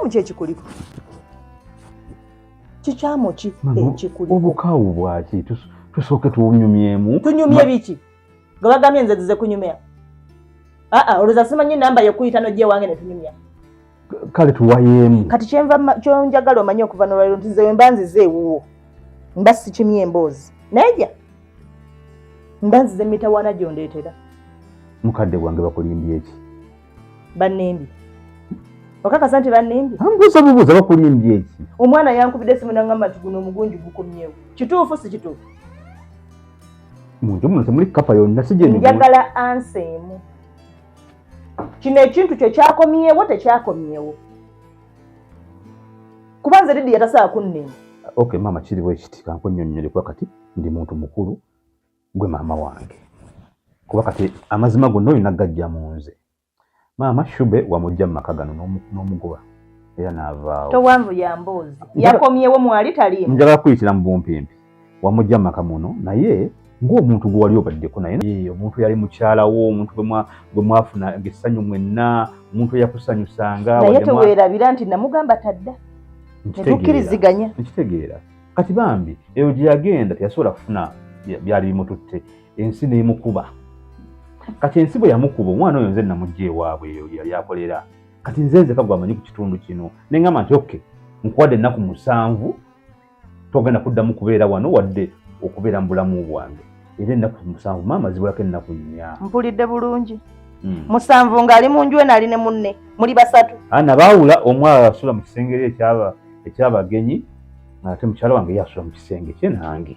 kikyamu kyekikuliko kikyamu ki ekikuliko obukawu bwaki tusooke tunyumyemu tunyumye biki nga bagambye nze zize kunyumya aa olwoza simanyi namba yokuyita nojja ewange netunyumya kale tuwayemu kati kyenva kyonjagala omanye okuva nolwaliro nti nze wemba nzize ewuwo mba sikimye emboozi nayeja mba nzize mitawana gyondeetera mukadde gwange bakulimbye eki bannimbye okakasa nti bannimbye mbuuza bubuuza bakulimbye eki omwana yankubidde esimu nangamba nti guno omugunju gukomyewo kituufu si kituufu munju muno temuli kapa yonna sijenjagala ansa emu kino ekintu kyo kyakomyewo tekyakomyewo kuba nze didi yatasaa kunnema okay maama kiriwo ekiti kankunyonnyole kuba kati ndi muntu mukulu gwe maama wange kuba kati amazima gonna olina gajja mu nze maama shube wamujja mu maka gano n'omugoba era n'avaawo towanvu ya mboozi yakomyewo mwali taliimu njagala kuyitira mu bumpimpi wamujja mu maka muno naye ng'omuntu gwe wali obaddeko naye eh, omuntu yali mukyalawo omuntu gwe mwafuna essanyu mwenna omuntu eyakusanyusanga naye teweerabira nti namugamba tadda tetukkiriziganya nkitegeera kati bambi eyo gye yagenda teyasobola kufuna byali bimututte ensi neemukuba kati ensi bwe yamukuba omwana oyo nze namugja ewaabwe eyo yali akolera kati nze nzeka gwamanyi ku kitundu kino neŋgamba nti oke nkuwadde ennaku musanvu togenda kuddamu kubeera wano wadde okubeera mu bulamu bwange era ennaku musanvu maama zibulako ennaku nnya mpulidde bulungi hmm. musanvu ng'ali mu nju eno ali ne munne muli basatu ana baawula omu asula mu kisengeri ekyaba ekyabagenyi ate mukyala wange ye asula mu kisenge kye nange